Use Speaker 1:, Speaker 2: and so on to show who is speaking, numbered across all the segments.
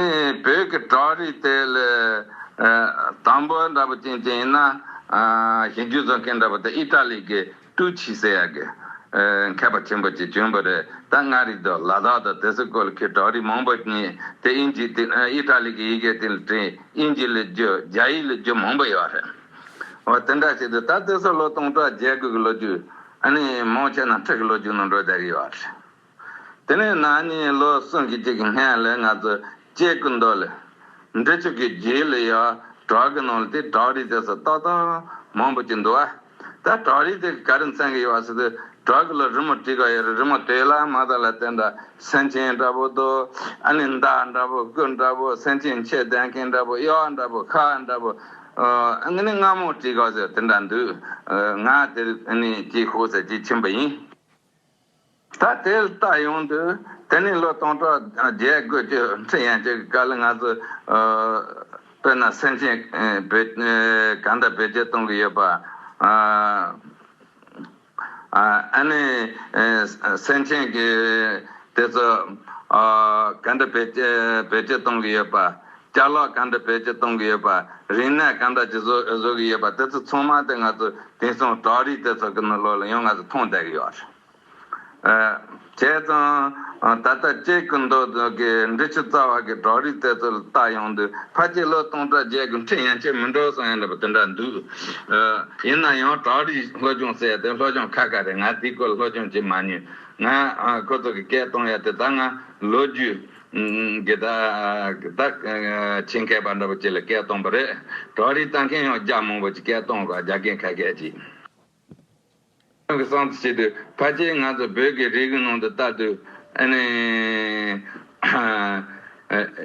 Speaker 1: བོད་ཀྱི་བྲག་རི་དེ་ལས་དང་པོ་འདྲ་པོ་ཅན་ཅན་ཡིན་ན། གཞི་རྒྱུ་རྫོགས་མཁན་འདྲ་པོ་དེ་ཨི་ཏྲ་ལི་གི་ཏུའུ་ཆི་སེ་ཡ་གི་མཁས་པ་ཆེན་པོ་ཅིག་བྱོན་པོ་རེད་ད་མངའ་རིས་དང་ལ་དྭགས་དང་དེ་སྲིད་ཀོལ་ཁའི་བྲག་རི་མང་པོ་གཉིས་དེ་ཨིན་ཇི་སྟེ་ཨི་ཏྲ་ལི་གི་ཡི་གེ་སྟེང་ལ་བྲིས་ཨིན་ཇི་ལི་རྒྱུ་རྒྱ་ཡིག་ལི་རྒྱུ་མང་པོ་ཡོད་རེད། འོ་དེ་འདྲ་ཞིག་དུ་ད་དེ་སྲིད་ལོ་སྟོང་ཕྲག་བརྒྱད་དགུ་གི་ལོ་རྒྱུས། ཨ་ནི་མང་ཆེ་ན་ཁྲི་ཀྱི་ལོ་རྒྱུས་ནང་འགྲོ་བསྡད་ཀྱི་ཡོད་རེད། དེ་ནས་ནག་ཉེས་ལོ་གསུམ་གྱི་གཅིག་གི་སྔས་ལས་ང་ཚོས་སྐྱེ་རྒུ་མདོ་ལས། འབྲི་ཆུ་གི་རྒྱུད་ལས་ཡོ་བྲག་གི་ནང་ལ་དེ་བྲག་རི་རྩེ་སོ་ལྟ་སྟངས་མང་པོ་སྐྱེས་འདུག་ཨ། ད་བྲག་རི་དེ་གི་ག་རེ་མཚན་གི་ཡོ་བ་ཟེར་དུས་བྲག་གི་ལོ་རི་མོ་བྲིས་ག་ཡོ་རི་རི་མོ་དེ་ལ་མ་དག་ལ་དེ་འདྲ་སེང་ཆེན་འདྲ་པོ་འདུག་ཨ་ནི་མདའ་འདྲ་པོ་སྐུ་འདྲ་པོ་སེང་ཆེན་མཆེ་གདན་མཁན་འདྲ་པོ་གཡོ་བ་འདྲ་པོ་ཁ་འདྲ་པོ། ཨ་ནི་རྔ་མོང་བྲིས་ག་ཟེར་དེ་འདྲ་འདུག་ང་དེར་ཨ་ནི་སྐྱེས་ཤུགས་ཟེར་གྱི་ཕྱིན་པ་ཡིན། ད་དེ་ལྟ་ཡོང་དུས་དེ་ནས་ལོ་སྟོང་ཕྲག་བརྒྱད་དགོས་ཀྱི་འཕྲིན་ཡན་ཆད་ཀྱི་བཀའ་ལ་ང་ཚོས་དཔེར་ན་སེམས་ཅན་གང་དག་བེད་སྤྱོད་གཏོང་གི་ཡོད་པ། ཨ་ནི་སེམས་ཅན་གྱི་དེ་ཚོ་གང་དག་བེད་སྤྱོད་གཏོང་གི་ཡོད་པ། བསྐྱར་ལོག་ག་འདྲ་བོད་ཀྱིས་གཏོང་གི་ཡོད་པ། རིག་གནས་ག་འདྲ་ཅིག་བཟོ་གི་ཡོད་པ་དེ་ཚོ་ཚང་མ་དེ་ང་ཚོ་དེང་སང་བྲག་རི་དེ་ཚོ་གི་ནང་ལོག་ལ་ཡང་ང་ཚོ་མཐོང་བསྡད་གི་ཡོད་རེད། བྱས་ཙང། ད་ལྟ་སྐྱེ་རྒུ་མདོ་སྟོད་ཀྱི་འབྲི་ཆུ་རྩ་བ་གི་བྲག་རི་དེ་ཚོ་ལ་བལྟ་ཡོང་དུས་ཕ་སྐྱེས་ལོ་སྟོང་ཕྲག་བརྒྱད་དགུ་འཕྲད་ཡང་ཁྱེད་མི་འགྲོ་སོང་ཡང་ལབ་པ་དེ་འདྲ་འདུག། ཡིན་ན་ཡང་བྲག་རི་སློབ་སྦྱོང་ཟེར་དེ་སློབ་སྦྱོང་ཁ་ཁ་རེད་ང་དེའི་སྐོར་ལ་སློབ་སྦྱོང་བྱེད་མ་མྱོང། ང་ཁོ་ཚོ་གི་སྐད་གཏོང་ཡ་དེ་ད་ང་ལོ་རྒྱུས། འདི་དག་བདག་ཆེས་མཁས་པ་འདྲ་པོ་ཅིག་ལ་སྐད་གཏོང་པ་རེད། གྲོགས་རིག་ལྟ་མཁན་ཡང་རྒྱ་མང་པོ་ཅིག་སྐད་གཏོང་དགོས་རྒྱ་སྐད་ཁ་སྐད་ཅིག། ཁྱོད་ཀྱི་གསང་དུ་བྱས་དུས་ཕལ་ཆེར་ང་ཚོ་བོད་ཀྱི་རིགས་ནང་དུ་ལྟ་དུས།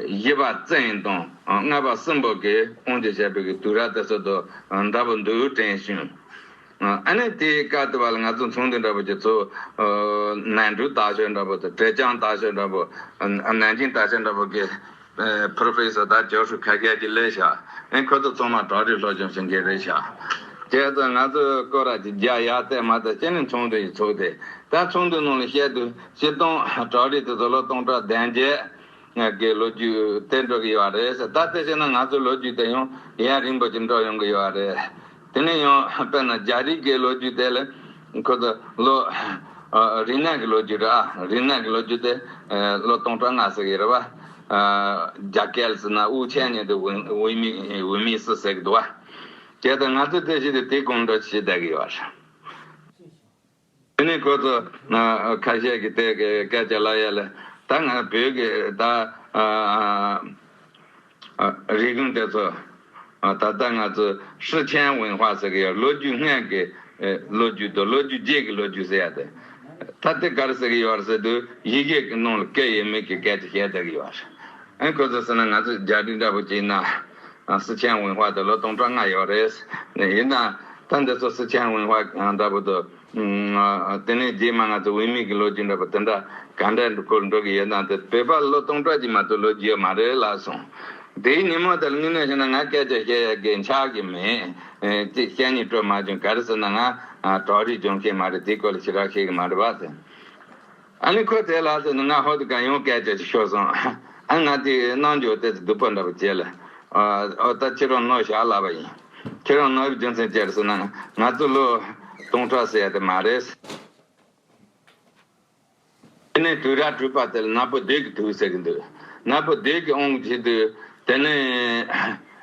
Speaker 1: བཞི་པ་བཙན་དང་ལྔ་པ་སྲིན་པོ་གིས་དབང་ཆ་བཞག་པའི་དུས་ར་དེ་ཚོད་དང་འདྲ་པོ་འདུག་དྲན་བྱུང། ཨ་ནི་དེའི་བཀའ་བསྡུ་བ་ལ་ང་ཚོ་མཚུངས་འདི་འདྲ་བོ་ཀྱི་ཚོ། ནན་ཀྲུའུ་ལྟ་ཞོད་འདྲ་བོ་དང་ཀྲེ་ཅང་ལྟ་ཞོད་འདྲ་བོ། ནན་ཅིང་ལྟ་ཞོད་འདྲ་བོ་ཀྱི། Professor དག་ཇོ་ཧྲུའུ་ཁ་ཁལ་གྱི་ལས་བྱ། ཁོ་ཚོ་ཚང་མ་བྲག་རི་ལྷོ་ལྗོངས་ཞིང་གི་རེད་བྱ། དེ་ཚོ་ང་ཚོ་སྐོར་ར་གྱི་རྒྱ་ཡག་ཚད་མ་དང་ཅི་ནི་མཚུངས་འདི་ཡི་ཚོ་སྟེ། ད་མཚུངས་འདི་ནང་ལ་བཤད་དུས་བྱིས་སྟོང་བྲག་རི་དེ་ཚོ་ལོ་སྟོང་ཕྲག་བདེན་བརྒྱད། ང་དགེ་ལོ་རྒྱུས་དེ་འགྲོ་གི་ཡོད་རེད་ད་དེ་བྱས་ན་ང་ཚོའི་ལོ་རྒྱུས་དེ་ཡང་ཡན་རིང་པོ་ཅིག་འགྲོ་ཡོང་གི་ཡོད་རེད། དེ་ནས་ཡང་དཔེར་ན་རྒྱ་རིགས་ཀྱི་ལོ་རྒྱུས་དེ་ལ་ཁོ་ཚོ་ལོ་རིག་གནས་ཀྱི་ལོ་རྒྱུས་རེད་ཨ་རིག་གནས་ཀྱི་ལོ་རྒྱུས་དེ་ལོ་སྟོང་ཕྲག་ལྔ་ཟེར་གི་རེད་བ། རྒྱ་སྐད་ཟེར་ན་དབུགས་ཆད་ནས་དེ་འོས་མི་འོས་མི་སུ་ཟེར་གི་འདུག་བ། གལ་ཏེ་ང་ཚོས་དེ་བྱས་ཏེ་དེ་གོམས་འགྲོ་བྱེད་བསྡད་གི་ཡོད་རེད། དེ་ནས་ཁོ་ཚོ་ཁ་ཤས་ཀྱིས་དེ་གའི་སྐད་ཆ་ལ་ཡ་ལེ། ད་ང་བོད་ཀྱི་ད་རིག་གཞུང་དེ་ཚོ་ད་ལྟ་ང་ཚོ་ཧྲི་ཁྲེན་ཝུན་ཧྭ་ཟེར་གི་ཡོད་ལོ་རྒྱུས་སྔས་ཀྱི་ལོ་རྒྱུས་དང་ལོ་རྒྱུས་རྗེས་ཀྱི་ལོ་རྒྱུས་ཟེར་ཡ་དེ་ད་དེ་གར་ཟེར་གི་ཡོད་རེད་ཟེར་དུས་ཡི་གེ་གི་ནང་ལ་སྐད་ཡིག་མིག་གི་སྐད་ཅིག་བཤད་བསྡད་ཀྱི་ཡོད་རེད། ཨེ་ཁོ་ཚོ་ཟེར་ན་ང་ཚོ་རྒྱ་རིགས་འདྲ་པོ་གྱིས་ན། སི་ཅན་ཝུན་ཧྭ་དུ་ལོ་སྟོང་གྲངས་ལྔ་ཡོད་རེད། ཡིན་ནའང་ད་འདི་ཚོ་སི་ཅན་ཝུན་ཧྭ་འདྲ་པོ་དུ། དེ་ནས་རྗེས་མ་ང་ཚོ་ཝུན་མིག་གི་ལོ་རྒྱུས་འདྲ་པོ་དེ་འདྲ་ག་འདྲ་ཁུར་འགྲོ་གི་ཡོད་ན་དེ་བོད་པ་ལོ་སྟོང་གྲངས་ཀྱི་མ་གཏོགས་ལོ་རྒྱུས་མ་རེད་ལབ་སོང། དེའི་ཉིན་མོ་དེར་དངོས་གནས་བཤད་ན་ང་སྐད་ཆ་བཤད་ཡ་དགེ་ཆགས་ཀྱི་མེད། ཅེས་གཉིད་སྤྲོ་མ་བྱུང་ག་རེ་ཟེར་ན་ང་གྲོགས་རིགས་སྦྱོང་མཁན་མ་རེད་དེའི་སྐོར་ལ་ཞི་རགས་བཤད་གི་མ་རེད་བ། ཨ་ནི་ཁོས་དེ་ལ་ཟེར་ནས་ང་ཧོལ་དུ་གང་ཡོང་སྐད་ཆ་ཞིག་ཤོད་སོང། ཨ་ནི་ང་དེའི་རྣལ་འབྱོར་དེ་ཚོ་སྡུག་པོ་འདྲ་པོ་བྱེད་ལ། འོ་ད་ཁྱེད་རང་ནོར་བཞག་ལབ་པ་ཡིན། ཁྱེད་རང་ནོར་བའི་རྒྱུ་མཚན་ཅི་རེད་ཟེར་ན། ང་ཚོ་ལོ་སྟོང་ཕྲག་ཟད་དེ་མ་རེད། དེ་ནས་དུས་རགས་དྲུས་པ་དེ་ལ་ནག་པོ་སྡོད་ཀྱི་འདུག་ཟེར་གྱི་འདུག་ནག་པོ་སྡོད་ཀྱི་འོང་གི་དུས་དེ་ནས།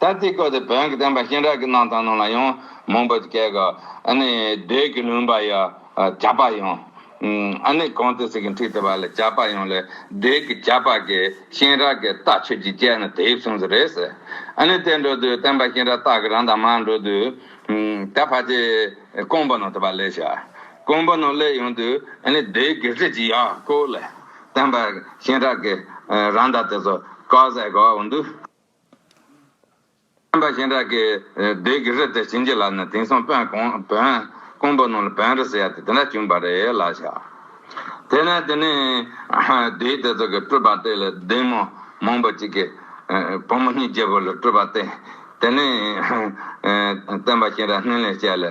Speaker 1: ད་ཙི་ཀོ་དེ་བོན་གྱི་བསྟན་པ་གཤེན་རབ་ཀྱི་གནང་དང་ནང་ལ་ཡང་མང་པོ་སྐད་ག་ནི་བདུད་ཀྱི་ལུང་པ་ཡ་བྱ་པ་ཡང་ཨ་ནི་གང་དུ་ཟིག་གི་འཁྲིག་དེ་བ་ལ་བྱ་པ་ཡང་ལ་བདུད་ཀྱི་བྱ་པ་གི་གཤེན་རབ་ཀྱི་རྟ་ཆོས་ཀྱི་སྤྱད་ན་དེ་གསུངས་སུ་རེད་ཟེར་ཨ་ནི་དེ་འགྲོ་དུས་བསྟན་པ་གཤེན་རབ་རྟག་གི་རང་དང་མ་འགྲོ་དུས་ད་བར་གྱི་ཀོང་པོ་ནང་དུ་བ་ལས་བྱ་ཀོང་པོ་ནང་སླེབས་ཡོང་དུས་ཨ་ནི་བདུད་ཀྱི་རི་ཆི་ཡ་ཀོ་ལ་བསྟན་པ་གཤེན་རབ་ཀྱི་རང་དང་དེ་ཚོ་བཀའ་ཟེ་ག་འདུག། བསྟན་པ་ཞིང་དྲག་གི་སྡེ་དགེ་བཤེས་དེ་བྱིན་གྱིས་བརླབས་ནས་དེང་སང་བོན་སྐོང་པོ་རྣམས་ལ་བོན་རི་ཟེར་ཡ་དེ་དེ་འདྲ་བྱུང་བ་རེད་ལ་ཤ། དེས་ན་དེ་ནས་སྡེ་དེ་ཚོ་གི་སྤྲུལ་པ་སྟེ་ལ་སྡེ་མོ་མང་པོ་ཅིག་གི་བུ་མོ་གཉིས་རྒྱལ་པོ་ལ་སྤྲུལ་པ་སྟེ། དེ་ནས་བསྟན་པ་ཞིང་དྲག་སྣེ་ལེན་བྱས་ལ་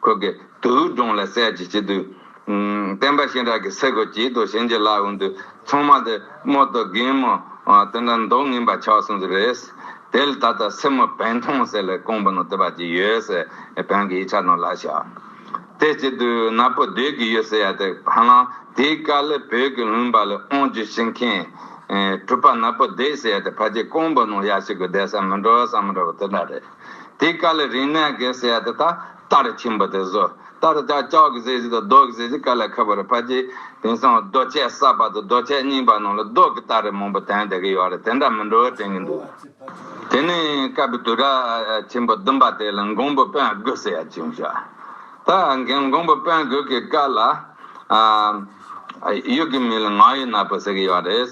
Speaker 1: ཁོ་གི་དུག་སྦྲང་ལ་གསལ་བྱེད་བྱེད་དུས། བསྟན་པ་གཤིན་རག་གི་སེ་གོལ་གྱིས་དུ་བྱིན་གྱིས་བརླབས་འོང་དུས་ཚང་མ་དེ་རྨོ་དོ་རྒན་རྨོ་དེ་འདྲ་མདོག་ངན་པ་ཆགས་སོང་ཟེར་རེས་དེལ་ད་ལྟ་སེར་མོ་བན་ཐང་ཟེར་ལས་ཀོང་པོ་ནང་དེ་བ་གྱིས་ཡོད་སེར་བན་གྱི་ཡིག་ཆ་ནང་ལ་བཞག་དེ་སྐྱིད་དུས་ན་པོ་སྡོད་ཀྱི་ཡོད་ཟེར་ཡ་དེ་བ་ལང་དེའི་དཀའ་ལས་བོད་ཀྱི་ལུང་པ་ལས་ཨོང་རྒྱུ་བྱེད་མཁན་གྲུ་པ་ན་པོ་སྡོད་ཟེར་ཡ་དེ་བ་གྱིས་ཀོང་པོ་ནང་ཡ་ཞིག་གི་བསྡད་ས་མི་འགྲོ་བསམ་མི་འགྲོ་བ་དེ་འདྲ་རེད། དེ་དཀའ་ལས་རིང་ནད་ཀྱི་ཟས་དེ་དག་ལྟར་ཁྱིམ་པོ་དེ་སོ་ལྟར་བྱ་ལྕགས་ཀྱི་ཟས་བཞི་དང་རྡོ་གི་ཟས་བཞི་དཀའ་ལས་ཁ་བ་རི་ཕ་གྱིས་དེང་སང་རྡོ་ཆས་གསར་པ་དང་རྡོ་ཆས་རྙིང་པ་རྣམས་ལ་རྡོ་གི་སྟ་རེ་མང་པོ་དེང་འདི་གི་ཡོད་རེད་དེ་འདྲ་མི་འགྲོ་བའི་དྲན་གྱི་འདུག་དེ་ནས་བསྐལ་པའི་དུས་རབས་ཆེན་པོ་བདུན་པ་དེ་ལ་མགོན་པོ་དཔོན་དགུ་ཟེར་ཡ་བྱུང་ཞོག་ད་གིན་མགོན་པོ་དཔོན་དགུ་གི་བསྐལ་ལ། ཡུལ་གྱི་མི་ལ་ང་ཡི་ནག་པོ་ཟེར་གྱི་ཡོད་རེད།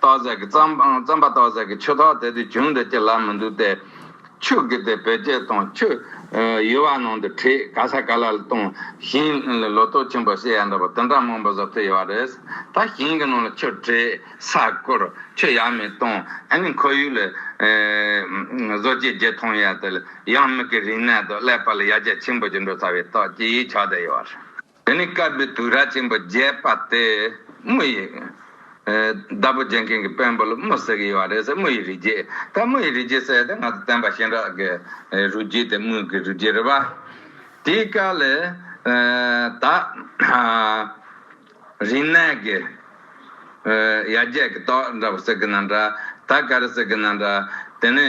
Speaker 1: ཏོག་གཟེར་གྱི་རྩམ་པ་ཏོག་གཟེར་གྱི་ཆུ་ཐོག་དེ་དུས་བྱུང་འདི་ཅི་ལ་མི་འདུག་སྟེ། ཆུ་གི་དེ་བེད་སྤྱད་དང་ཆུ་ཡུ་བ་ནང་དུ་བྲིས་ག་ས་ག་ལ་ལ་བཏུང་ཞིང་ལོ་ཏོག་ཆེན་པོ་བསྲེས་ཡ་འདྲ་པོ་དེ་འདྲ་མང་པོ་བཟོ་ཐུབ་ཡོད་པ་རེད། ད་ཞིང་གི་ནང་ལ་ཆུ་བྲིས་ས་བསྐོར་ཆུ་ཡ་མི་བཏུང་ཨ་ནི་ཁོར་ཡུག་ལ་བཟོ་བྱེད་བརྒྱད་ཐོང་ཡ་དེ་ལ་ཡང་མིག་གི་རིག་གནས་དང་ཀླད་པ་ལ་ཡ་རྒྱ་ཆེན་པོ་ཅིག་འགྲོ་ཚར་བའི་རྟགས་ཀྱིས་ཆགས་བསྡད་ཡོད་པ་རེད། དེ་ནི་དཀར་པོའི་དུས་རྭ་ཆེན་པོ་བརྒྱད་པ་སྟེ། དམུ་ཡི། བདག་པོ་རྒྱན་མཁན་གྱི་དཔོན་པོ་ལ་དམུ་ཟེར་གྱི་ཡོད་པ་རེད་ཟེར་དམུ་ཡི་རི་རྒྱལ། ད་དམུ་ཡི་རི་རྒྱལ་ཟེར་ཡོད་དེ་ང་ཚོ་བསྟན་པ་གཤེན་རབ་ཀྱི་རུས་རྒྱུད་དེ་དམུ་གི་རུས་རྒྱུད་རེད་པ། དེའི་དཀའ་ལས། ད། རིག་གནས་ཀྱི། ཡར་རྒྱས་ཀྱི་ཏོག་འདྲ་པོ་ཟེར་གྱི་ན་འདྲ། ད་ག་རེ་ཟེར་གྱི་ན་འདྲ། དེ་ནི།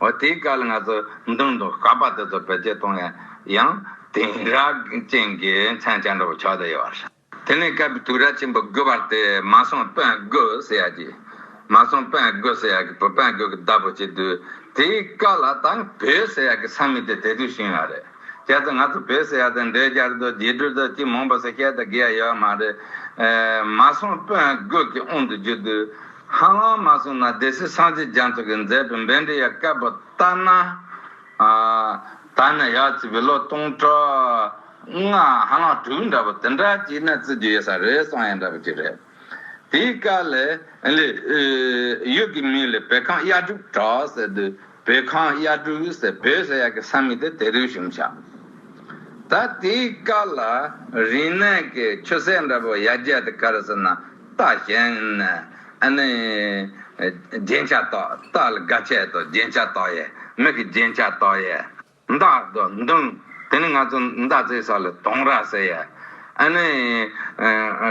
Speaker 1: འོ་དེའི་སྐལ་ང་ཚོ་མདུན་དུ་བསྐལ་པ་དེ་ཚོ་བེད་སྤྱད་གཏོང་ཡ་ཡང་དེང་རབས་ཅན་གྱི་མཚན་བྱང་འདྲ་བོ་ཆགས་བསྡད་ཡོད་རེད། དེ་ནས་སྐལ་པའི་དུས་རབས་ཆེན་པོ་དགུ་བར་དེ་མ་སོང་དཔོན་དགོས་ཟེར་ཡ་གྱི། མ་སོང་དཔོན་དགོས་ཟེར་ཡ་གྱི་བུ་དཔོན་དགོས་གྱི་བདག་པོ་བྱེད་དུས་དེའི་སྐལ་ལ་ད་བོད་ཟེར་ཡ་གྱི་ས་མིང་དེ་དེ་དུས་བྱུང་ཡོད་རེད། ཁྱེད་ཚོ་ང་ཚོ་བོད་སེར་ཡག་དང་འདྲེས་རྒྱག་དུས་རྗེས་འགྲོ་ཚོས་ཅི་མོངས་པ་སོགས་བཤད་དང་གི་ཡ་ཡོད་མ་རེད། མ་སོང་དཔོན་རྒོད་ཀྱི་དབུང་དུ་འཇུག་དུས། ཧ་ལམ་མ་སོང་ན་སྡེ་སྲིད་སངས་རྒྱས་རྒྱ་མཚོ་གིས་མཛད་པའི་འབེན་འདྲེ་ཡ་སྐལ་པོ་ལྟ་ན། ད་ནས་ཡར་བརྩིས་པའི་ལོ་སྟོང་ཕྲག་ལྔ་ཧ་ལམ་དྲུག་འདྲ་པོ་དེ་འདྲ་གཅིག་ནས་བརྩི་རྒྱུ་ཡོད་ས་རེད་སོང་ཡ་འདྲ་པོ་གཅིག་རེད། དེའི་བཀའ་ལས། ཡུལ་གྱི་མིང་ལས་བོད་ཁམས་གཡའ་དྲུག་གྲགས་ཟེར་དུས་བོད་ཁམས་གཡའ་དྲུག་ཟེར་བོད་ཟེར་ཡག་གི་ས་མིང་དེ་དེ་རུ་ཞུགས་འཆགས། ད་དེའི་བཀའ་ལ། རིག་གནས་ཀྱི་ཆུ་ཟད་འདྲ་པོ་ཡར་རྒྱས་དེ་གར་ཟེར་ན་རྟ་ཞེན། རྒྱན་ཆ་དག་རྟ་ལ་དགའ་ཆེད་དུ་རྒྱན་ཆ་དག་ཡས་མིག་གི་རྒྱན་ཆ་དག་ཡས། མདའ། མདུང། དེ་ནི་ང་ཚོ་མདའ་རྩེ་ས་ལ་དུང་ར་ཟེར་ཡ། ཨ་ནི།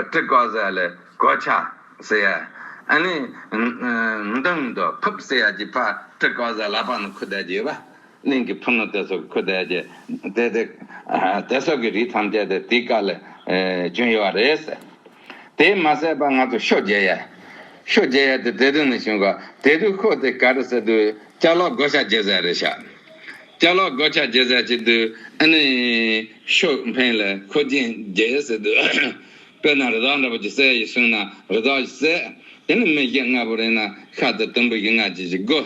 Speaker 1: སྤྲི་ཀོག་ས་ལ་གོ་ཆ་ཟེར་ཡ། ཨ་ནི། མདུང་དུ་ཕུབ་ཟེར་ཡ་ཀྱི་ཕར་སྤྲི་ཀོག་ས་ལ་པང་ནི་ཁུ་དལ་གྱི་བ་གླིང་གི་ཕུ་ནུ་དེ་སོགས་ཁུ་དལ་གྱི་དེ་དེ་སོགས་ཀྱི་རིགས་ཐམས་ཅད་དེ་དེའི་བཀའ་ལས་བྱུང་ཡོད་བ་རེད། དེས་མ་ཟད་པར་ང་ཚོ་ཤོ་རྒྱལ་ཡ། ཤོ་རྒྱལ་ཡ་དེ་དེ་དུས་ནས་བྱུང་ག་དེ་དུས་ཁོ་དེ་ག་རེ་ཟེར་དུས་སྐྱག་ལག་སྒོ་ཆག་རྒྱལ་ཟེར་རེད་ཤག། སྐྱག་ལག་སྒོ་ཆག་རྒྱལ་ཟེར་གྱི་དུས་ཨ་ནི་ཤོ་འཕེན་ལ་ཁོ་རྒྱན་རྒྱལ་ཡ་ཟེར་དུས་དཔེར་ན་རི་དྭགས་འདྲ་པོ་ཅིག་གསལ་ཡིན་གསུངས་ན་རི་དྭགས་ཞིག་གསལ། དེ་ནི་མི་ཞིག་ལྔ་པོ་རེད་ན་ཤ་དེ་དུམ་བུ་ཞིག་ལྔ་ཅིག་ཅིག་སྒོ།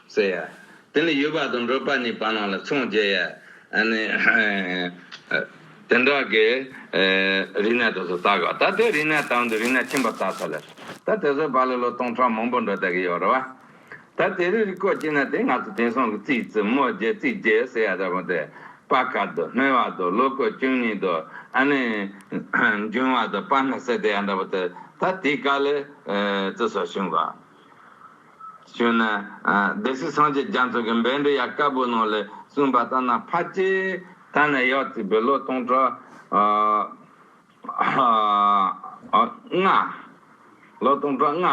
Speaker 1: ཟེར་ཡ། དེ་ནི་ཡུལ་བག་དང་འགྲོས་པ་གཉིས་བར་སྣང་ལ་མཚུངས་རྒྱས་ཡ། དེ་འདྲ་གི་རིག་གནས་དེ་ཚོ་དག་གོ། ད་དེ་རིག་གནས་དང་དུ་རིག་གནས་ཁྱིམ་པ་དག་ཚ་ལེ། ད་དེ་ཚོའི་བར་ལ་ལོ་སྟོང་ཕྲག་མང་པོ་འགྲོ་བསྡད་ཀྱི་ཡོད་རེད་བ། ད་དེ་རིགས་རིག་གོ་ཅིག་ན་དེ་ང་ཚོ་དེང་སང་གི་རྩིས་རྩིས་རྨོ་རྗེ་རྩིས་རྗེ་ཟེར་ཡ་འདྲ་པོ་དེ། དཔའ་སྐར་དུ་སྨེ་བ་དུ་ལོ་གོ་བཅུ་གཉིས་དུ་ཨ་ནི། འབྱུང་བ་དུ་དཔའ་སྣ་ཟེར་དེ་ཡ་འདྲ་པོ་དེ། ད་དེ་ག་ལེ་རྩིས་སོ་བྱུང་གོ། བྱོན་ནས། སྡེ་སྲིད་སངས་རྒྱས་རྒྱ་མཚོ་གི་འབེལ་འབྲི་ཡ་དཀར་པོའི་ནང་ལས་གསུངས་པ་ལྟར་ན་ཕ་སྐྱེས་ད་ནས་ཡོད་ཚེ་བུ་ལོ་སྟོང་ཕྲག་ལྔ། ལོ་སྟོང་ཕྲག་ལྔ་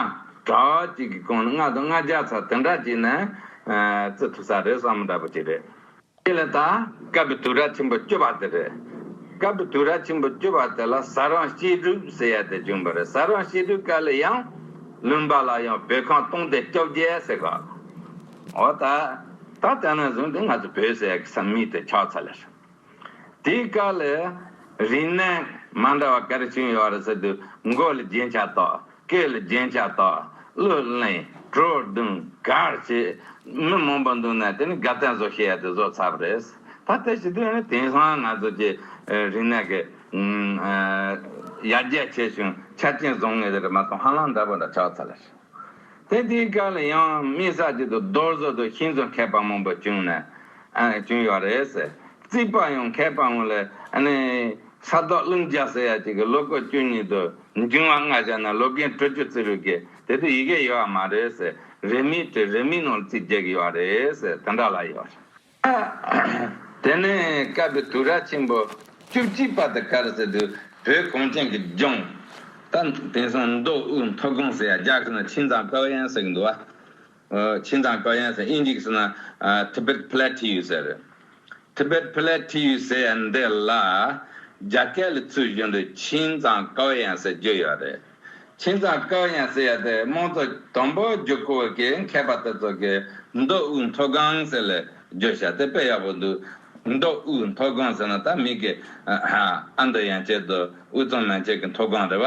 Speaker 1: དྲག་ཅིག་གི་གོང་ནས་ལྔ་དང་ལྔ་བརྒྱ་ཚར་དེ་འདྲ་བྱས་ནས་བརྩི་ཐུབ་ས་རེད་བསམ་མི་འདྲ་པོ་ཅིག་རེད། དེ་ལ་དང་སྐབས་བསྡུས་ར་ཆེན་པོ་བསྐྱོད་པ་དེ་རེད། སྐབས་བསྡུས་ར་ཆེན་པོ་བསྐྱོད་པ་དེ་ལ་ཟ་རང་བཤད་སྒྲུབ་ཟེར་ཡ་དེ་བྱུང་བ་རེད་ཟ་རང་བཤད་སྒྲུབ་ཀ་ལ་ཡང། ལུང་པ་ལ་ཡང་བོད་ཁང་སྟོང་སྡེ་བཅོ་བརྒྱད་ཟེར་ག། འོ་ད། ད་ལྟ་ན་བཟུང་དེ་ང་ཚོ་བོད་ཟེར་ཡ་སམ་མིང་དེ་ཆགས་ཚར་ལ་ཟེར། དེའི་སྐ་ལ། རིག་གནས་མ་འདྲ་བ་ག་རེ་བྱུང་ཡོད་རེད་ཟེར་དུས་མགོ་ལ་རྒྱན་ཆ་གཏོགས། སྐད་ལ་རྒྱན་ཆ་དག་གླུ་གླེང་བྲོ་བརྡུང་གར་བྱེད་མི་མང་པོ་འདུག་ན་དེ་ནི་དགའ་ལྡན་བཟོ་ཤེས་ཡ་དེ་བཟོ་ཚར་བ་རེད། ད་ལྟ་ཞི་དུལ་ནི་དེང་སང་ང་ཚོ་ཀྱི་རིག་གནས་ཀྱི་ཡར་རྒྱས་ཆེ་ཞིང་ཆ་རྐྱེན་བཟང་ངེས་རེད་མ་གཏོགས་ཧ་ལམ་འདྲ་པོ་འདྲ་ཆགས་ཚར་བ་རེད། དེ་དེའི་སྐབས་ལ་ཡང་དམིགས་བསལ་གྱི་དུ་རྡོ་བཟོ་དུ་ཤིང་བཟོ་མཁས་པ་མང་པོ་བྱུང་ཡོད་པ་རེད། རྩིག་པ་ཡང་མཁས་པ་ངོས་ལ་ནི་ས་ཐོག་རླུང་རྒྱག་ཟེར་ཡ་གཅིག་གི་ལོ་སྐོར་བཅུ་གཉིས་དུ་འབྲིང་བ་ལྔ་བཞག་ན་ལོ་རྒན་དྲུ་ཅུ་ཙི་རུ་གས་དེ་དུ་ཡི་གས་ཡོད་བ་མ་རེད་སེ་རེད་མི་དྲི་རེད་མི་ནོར་ཚིག་རྒྱག་ཡོད་བ་རེད་སེ་དེ་འདྲ་ལ་ཡོད་རེད་དེ་ནས་སྐབས་བི་དུ་ར་ཆེན་པོ་བཅུ་གཅིག་པ་དུ་གར་སེ་དུ་བོད་གངས་ཅན་གི་ལྗོངས་ད་དེང་སང་མདོ་དབུས་མཐོ་སྒང་སེ་ཡ་རྒྱ་ཁུ་ན་ཁྲིན་ཚང་ཀའོ་ཡན་སེ་གི་འདུ་བ་ཆིན་དང་ཀོ་ཡན་སེ་ཨིན་ཡིག་སི་ན Tibet Plateau ཟེར། Tibet Plateau ཟེར་ཡ་འདི་ལ་རྒྱ་སྐད་ལ་ཚུལ་བཞིན་དུ་ཆིན་དང་ཀོ་ཡན་སེ་བརྗོད་ཡོད་རེད། ཆིན་དང་ཀོ་ཡན་སེ་ཡ་དེ་དམངས་གཙོ་དོན་པོ་རྒྱུག་ཁུལ་གྱི་མཁས་པ་དེ་ཚོ་གི་མདོ་དབུས་མཐོ་སྒང་ཟེར་ལ་བརྗོད་བྱ་དེ་དཔེ་ཡག་པོ་འདུག་མདོ་དབུས་མཐོ་སྒང་ཟེར་ན་ད་མིག་གི་ཨ་མདོ་ཡན་ཆད་དུ་དབུས་གཙང་མན་ཆད་ཀྱི་མཐོ་སྒང་རེད་བ།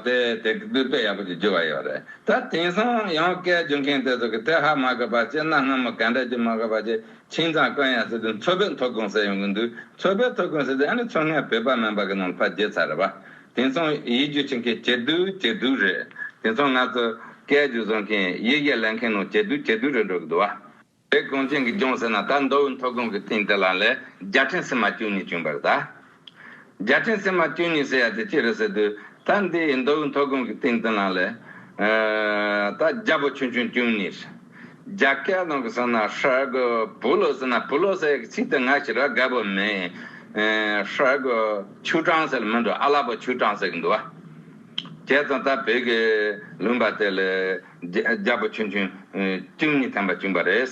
Speaker 1: དེ་དེ་དཔེ་ཡག་པོ་ཞིག་བརྒྱུད་པ་ཡོད་རེད་ད། དེང་སང་ཡང་སྐད་བརྒྱུད་མཁན་དེ་ཚོ་གི་དེ་ཧ་མ་གོ་པ་བྱས་གནའ་སྔ་མོ་ག་འདྲ་བརྒྱུད་མ་གོ་པ་བྱས་ཁྱིང་ཚང་དཀོན་ཡང་ཟེར་དུས་མཚོ་བོད་མཐོ་སྒང་ཟེར་ཡོང་གི་འདུག་མཚོ་བོད་མཐོ་སྒང་ཟེར་དུས་ཨ་ནི་མཚོ་སྔའི་བོད་པ་མིན་པ་གི་ནང་ཕ་བརྒྱུད་ཚར་རེད་པ། དེང་སང་ཡིག་བརྒྱུད་བྱེད་མཁན་ཇེ་སྡུག་ཇེ་སྡུག་རེད། དེང་སང་ང་ཚོ་སྐད་བརྒྱུད་བཟོ་མཁན་ཡིག་གེ་ལེན་མཁན་ནང་ཇེ་སྡུག་ཇེ་སྡུག་རེད་འགྲོ་གི་འདུག་བ། བོད་གངས་ཅན་གྱི་ལྗོངས་ཟེར་ན་ད་མདོ་དབུས་མཐོ་སྒང་གི་ཐིང་དེ་ལ་ལས་རྒྱ་ཕྲན་སིལ་མ་བཅུ་གཉིས་བྱུང་བར་གདའ། རྒྱ་ཕྲན་སིལ་མ་བཅུ་གཉིས་ཟེར་ཡ་དེ་ཅི་རེད་ཟེར་དུས། ད་འདི་མདོ་དབུས་མཐོ་སྒང་གི་ཐིང་དེ་ལ་ལས། ད་རྒྱ་བོད་ཆུང་ཆུང་བཅུ་གཉིས། རྒྱ་སྐད་ནང་གི་ཟེར་ན་ཧྲལ་གོ་བུ་ལོ་ཟེར་ན་བུ་ལོ་ཟེར་ཡ་གི་ཚིག་དེ་ང་ཞིག་ར་བསྒར་བོ་མེད། ཧྲལ་གོ་ཆུ་གྲང་ཟེར་ལ་མི་འགྲོ་ཨ་ལགས་པ་ཆུ་གྲང་ཟེར་གི་འདུག་བ། བྱས་ཙང་ད་བོད་ཀྱི་ལུང་པ་དེ་ལས། རྒྱ་བོ་ཆུང་ཆུང་བཅུ་གཉིས་ཐན་པ་བཅུག་པ་རེད།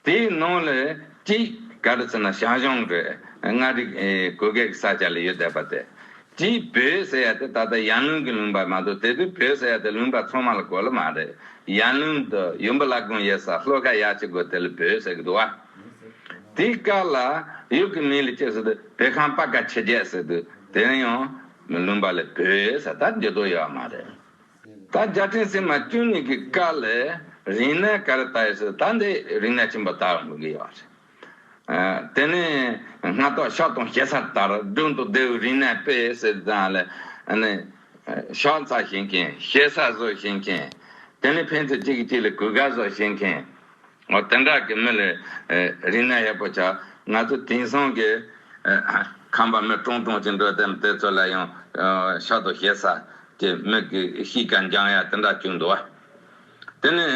Speaker 1: དེའི་ནང་ལས་གཅིག་ག་རེ་ཟེར་ན་ཞང་ཞུང་རེད་མངའ་རིས་གོ་སྐལ་ས་ཆ་ལ་ཡོད་བསྡད་པ་དེ། གཅིག་བོད་ཟེར་ཡ་དེ་ད་ལྟ་ཡར་ལུང་གི་ལུང་པ་མ་གཏོགས་དེ་དུས་བོད་ཟེར་ཡ་དེ་ལུང་པ་ཚང་མ་ལ་གོ་ལ་མ་རེད། ཡར་ལུང་དུ་ཡུམ་བུ་བླ་དགོན་ཡོད་སར་ལྷོ་ཁ་ཡག་ཅིག་དགོས་དེ་ལ་བོད་ཟེར་གི་འདུག་བ། དེའི་སྐབས་ལ་ཡུལ་གྱི་མི་ལ་སྐྱེས་ཟེར་དུས་བོད་ཁང་སྤ་ཀ་ཆེ་བརྒྱད་ཟེར་དུས་དེ་ཡང་ལུང་པ་ལས་བོད་ཟེར་ད་འགྱུར་དོགས་ཡོད་བ་མ་རེད། ད་བརྒྱ་སྤྲིན་སིལ་མ་བསྐྱུར་ནུས་ཀྱི་དཀའ་ལས་རིང་ན་ག་རེ་ལྟ་ཡོད་ཟེར་ད་འདི་རིང་ན་ཁྱིམ་པ་དག་འགྲོ་གི་ཡོད་རེད། དེ་ནས་སྔ་ཐོག་ཤ་དང་ཞེ་ས་ལྟར་སྒྲུང་དང་ལྡེའུ་རིང་ན་དཔེ་ཟེར་ཙང་ལ་ནི། ཤ་ཚ་བཞིན་མཁན་ཞེ་ས་བཟོ་བཞིན་མཁན། དེ་ནས་ཕན་ཚུན་གཅིག་གིས་གཅིག་ལ་གུས་དགའ་བཟོ་བཞིན་མཁན། ངོ་གཏན་འགག་གི་མི་ལས་རིག་གནས་ཡག་པོ་བྱ། ང་ཚོ་དེང་སང་གི་ཁམས་པ་མི་ཀྲོང་ཀྲོང་ཅིག་འགྲོ་དེམ་དེ་ཚོ་ལ་ཡང་ཤ་དོ་ཞེ་ས་ཀྱི་མིག་གི་ཤིས་ཀྱང་འགྱང་ཡ་དེ་འདྲ་བྱུང་འདུག་དེ་ནི་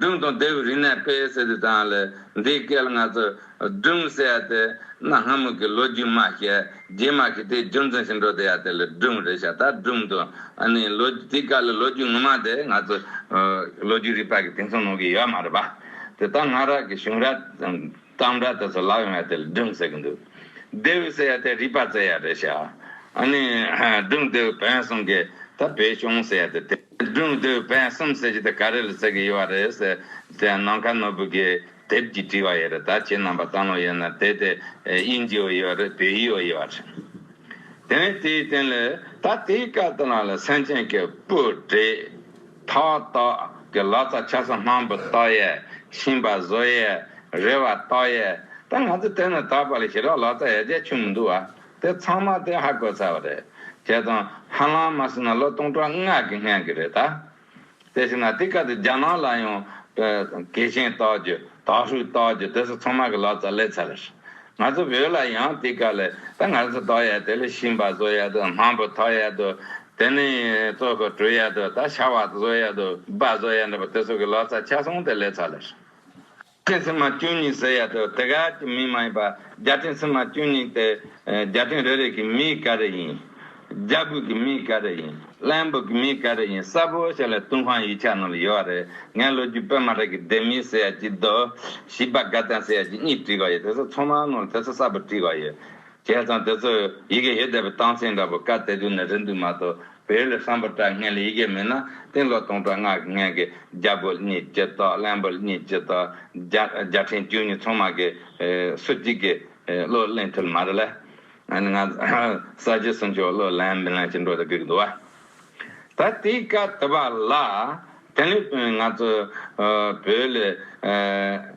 Speaker 1: སྒྲུང་དང་དེའུ་རིག་གནས་སྤེལ་ཟེར་དུས་ཙང་ལས་འདིའི་སྐད་ལ་ང་ཚོ་སྒྲུང་གསལ་ཏེ། གནའ་སྔ་མོ་གི་ལོ་རྒྱུས་མ་བཤད། རྗེས་མ་གི་དེའི་རྒྱུ་མཚན་ཞིག་འགྲོ་དེ་ཡག་དེ་ལ་སྒྲུང་རེད་བྱ། ད་སྒྲུང་དུ། ཨ་ནི། དེའི་སྐབས་ལ་ལོ་རྒྱུས་ངོ་མ་དེ་ང་ཚོ། ལོ་རྒྱུས་རིག་པ་གི་དེང་སང་ནང་གི་ཡོད་མ་རེད་པ། དེ་དག་སྔ་རབས་ཀྱི་གཞུང་ར། གཏམ་ར་དེ་ཚོ་ལག་ཡོང་ཡ་དེ་ལ་སྒྲུང་ཟེར་གི་འདུག། ལྡེའུ་གསལ་ཡ་དེ་རིག་པ་བཙལ་ཡ་རེད་བྱ། ཨ་ནི། སྒྲུང་ལྡེའུ་བོན་གསུམ་གི། ད་བོད་གཞུང་ཟེར་ཡ་དེ། སྒྲུང་ལྡེའུ་བོན་གསུམ་ཟེར་གྱི་དེ་ག་རེ་ལ་བཙལ་གི་ཡོད་བ་རེད། དེ་ཡང་ནམ་མཁའ་ནོར་བུ་གིས། དེབ་ཀྱི་བྲིས་བ་ཡོད་རེད་ད་ཁྱེད་རྣམས་པ་བལྟ་ནོ་ཡོད་ན་དེ་དེ་དབྱིན་ཇི་བོ་ཡོད་རེད་བོད་ཡིག་བོ་ཡོད་རེད་དེ་བས་དེའི་སྟེང་ལ་ད་དེའི་སྐབས་དེ་ལ་ལ་སེམས་ཅན་གྱི་སྤུ་གྲེ་ཐ་དག་གི་ལག་ཚ་ཆ་ས་མང་པོ་བཏགས་ཡས་ཤིང་བ་བཟོ་ཡས་རེ་བ་བཏགས་ཡས་ད་ང་ཚོ་དེ་ནས་ད་བར་ལ་ཞི་རག་ལག་ཚ་ཡ་རྒྱ་ཆུ་མི་འདུག་བ་དེ་ཚང་མ་དེ་ཧ་གོ་ཚར་བ་རེད་ཁྱེད་དང་ཧ་ལམ་མ་སྲིད་ན་ལོ་སྟོང་ཕྲག་ལྔ་གི་སྔན་གྱི་རེད་ད་དེ་བྱས་ན་དེ་ག་དུས་རྒྱ་ནག་ལ་ཡང་གེགས་ཆེན་གཏོགས་རྒྱུ་དྭགས་ཧྲུལ་གཏོགས་རྒྱུ་དེ་ཚོ་ཚང་མ་གི་ལག་རྩལ་ལས་ཚར་རེད། ང་ཚོ་བོད་ལ་ཡང་དེ་ག་ལས་ད་ང་ཚོ་ལྟོགས་ཡས་དེ་ལས་གཤིན་པ་བཟོ་ཡས་འདུག་མང་པོ་ཐོགས་ཡས་འདུག་དེ་ནས་གཙོ་ཁོ་གྲུ་ཡས་འདུག་ད་ཤ་བ་བཟོ་ཡས་འདུག་སྦ་བཟོ་ཡས་འདུག་པ་དེ་ཚོ་གི་ལག་རྩལ་ཆ་ཚང་དེ་ལས་ཚར་རེད། སྤྲིན་སིལ་མ་བཅུ་གཉིས་ཟེར་ཡ་དོ་དེ་ག་གི་མིང་མ་ཡིན་པ་རྒྱ་སྤྲིན་སིལ་མ་བཅུ་གཉིས་དེ་རྒྱ་སྤྲིན་རེ་རེ་གི་མིང་ག་རེ་ཡིན། རྒྱ་སྒོས་ཀྱི་མིང་ག་རེ་ཡིན་བླན་པོ་གི་མིང་ག་རེ་ཡིན་གསལ་པོ་ཞིག་ལ་ཏུན་ཧོང་ཡིག་ཆ་ནང་ལ་ཡོད་རེད་ངས་ལོ་རྒྱུས་དཔེ་མ་རེ་གི་སྡེ་མིང་ཟེར་ཡ་གཅིག་རྡོ་ཞི་བ་དགའ་ལྡན་ཟེར་ཡ་གཅིག་གཉིས་བྲིས་ག་ཡོད་དེ་ཚོ་ཚང་མ་ནང་ལ་དེ་ཚོ་གསལ་པོ་བྲིས་ག་ཡོད་བྱས་ཙང་དེ་ཚོ་ཡི་གེ་ཡོད་བསྡད་པའི་སྟངས་འཛིན་འདྲ་པོ་ག་དེ་དུས་ནས་རེད་འདུག་མ་གཏོགས་བས་ལས་བསམ་པ་དྲག་ངན་ལས་ཡི་གེ་མེད་ན་སྟེང་ལོག་སྟོང་ཕྲག་སྔགས་ཀྱི་ངན་གྱི་རྒྱ་སྒོ་གཉིས་ཇི་ལྟ་གླེན་པོ་གཉིས་ཇི་ལྟ་རྒྱ་ཕྲན་བཅུ་གཉིས་ཚོང་མ་གི་སུ་གཅིག་གི་བློ་གླེང་ཐུབ་མ་རེད་ལ། ང་གསར་བརྗེ་གསུང་ཆོས་བློ་གླེང་མི་གླེང་ཅི་འགྲོ་དེ་དགོས་ཀྱི་འདུག་བ། ད་ལྟའི་སྐབས་དེ་བ་ལ་དེ་ལས་དོན་ང་ཚོ་བོད་ལས།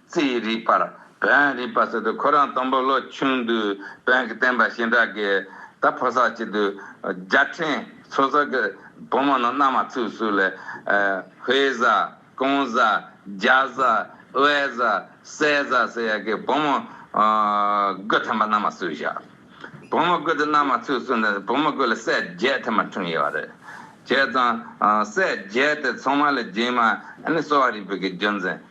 Speaker 1: རྩིས་རིག་པར་བོན་རིག་པ་ཟེར་དུས་ཁོ་རང་དང་པོ་ལོ་ཆུང་དུས་བོན་གྱི་བསྟན་པ་ཞིང་དག་གི་ད་ཕོ་སར་བྱེད་དུས་རྒྱ་ཕྲན་ཚོ་གསར་གྱི་བུ་མོ་རྣམས་མནའ་མ་ཚུགས་གསུགས་ལས་བྷེ་བཟའ། ཀོང་བཟའ། རྒྱ་བཟའ། དབལ་བཟའ། སྲས་བཟའ་ཟེར་ཡ་གི་བུ་མོ་དགུ་ཐམ་པ་མནའ་མ་ཚུགས་བཞག་བུ་མོ་དགུ་དེ་མནའ་མ་ཚུགས་གསུགས་ནས་བུ་མོ་དགུ་ལ་སྲས་བརྒྱད་ཐམ་པ་འཁྲུངས་ཡོད་བ་རེད། བྱས་ཙང་སྲས་བརྒྱད་དེ་ཚང་མ་ལས་རྗེས་མ་ནི་གསོ་བ་རིག་པའི་གི་རྒྱུ་མཚན་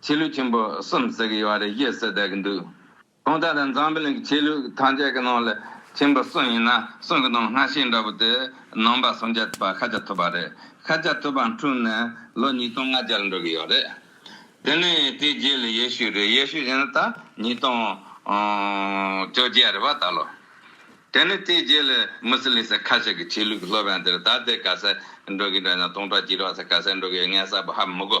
Speaker 1: ཆོས་ལུགས་ཆེན་པོ་གསུམ་ཟེར་གི་ཡོད་པ་རེད་ཞེས་ཟེར་བསྡད་ཀྱི་འདུག་གོང་ད་ལྟ་འཛམ་གླིང་གི་ཆོས་ལུགས་ཐམས་ཅད་ཀྱི་ནང་ལ་ཆེན་པོ་གསུམ་ཡིན་ན་གསུམ་གྱི་ནང་སྔ་ཕྱི་འདྲ་པོ་དེ་ནང་པ་སུམ་བརྒྱ་པ་ཤ་ཆ་ཐུབ་པ་རེད་ཤ་ཆ་ཐུབ་པ་འཁྲུངས་ནས་ལོ་ཉིས་སྟོང་ལྔ་བརྒྱར་འགྲོ་གི་ཡོད་རེད་དེ་ནས་དེའི་རྗེས་ལ་ཡེ་ཤུ་རེད་ཡེ་ཤུ་ཡིན་ན་ད་ཉིས་སྟོང་བཅོ་བརྒྱད་རེད་པ་ད་ལོ་དེ་ནས་དེའི་རྗེས་ལ་མུ་སི་ལིང་སེ་ཁ་ཤས་ཀྱི་ཆོས་ལུགས་ཀྱི་སློབ་ཡང་དེར་ད་ལྟའི་ག་ས་འགྲོ་གི་འདྲ་ཡིན་ན་སྟོང་ཕྲག་བཅུ་ལོ་ས་ག་ས་འགྲོ་གི་ཡོད་ངས་གསལ་པོ་ཧ་མི་གོ།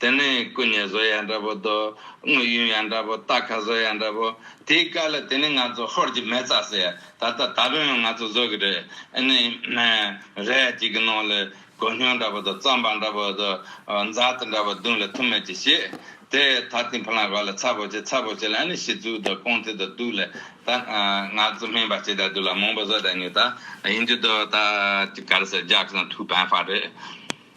Speaker 1: དེ་ནི་སྐུ་མཉེ་བཟོ་ཡང་འདྲ་པོ། དངོས་ཡུམ་ཡང་འདྲ་པོ། རྟ་ཁ་བཟོ་ཡང་འདྲ་པོ། དེའི་བཀའ་ལ་དེ་ནི་ང་ཚོ་ཧོར་གྱི་མེ་བཙའ་ཟེར། ད་ལྟ་ད་ཕན་ཡང་ང་ཚོ་བཟོ་གི་རེད། ཨེ་ནི། རས་གཅིག་གི་ནང་ལ་གོས་སྙིང་འདྲ་པོ་དང་རྩམ་པ་འདྲ་པོ་དང། འཛའ་ཐུ་འདྲ་པོ་བརྡུངས་ལ་ཐུ་མེད་ཀྱི་བྱེད། དེ་ད་ཐིང་ཕུ་ལང་ག་ལ་ཚ་པོ་བྱེད་ཚ་པོ་བྱེད་ལ་ཨེ་ནི་ཤི་ཚུལ་དང་རྐང་མཐིལ་དང་དུག་ལ། ད་ང་ཚོ་སྨན་པ་བྱེད་ད་དུག་ལ་མང་པོ་བཟོ་ད་ཉོས་ད། ཡིན་རྒྱུ་དང་ད་ག་ལ་ཟེར་རྒྱག་ཀྱང་ཐུགས་ཕན་ཧ་རེད།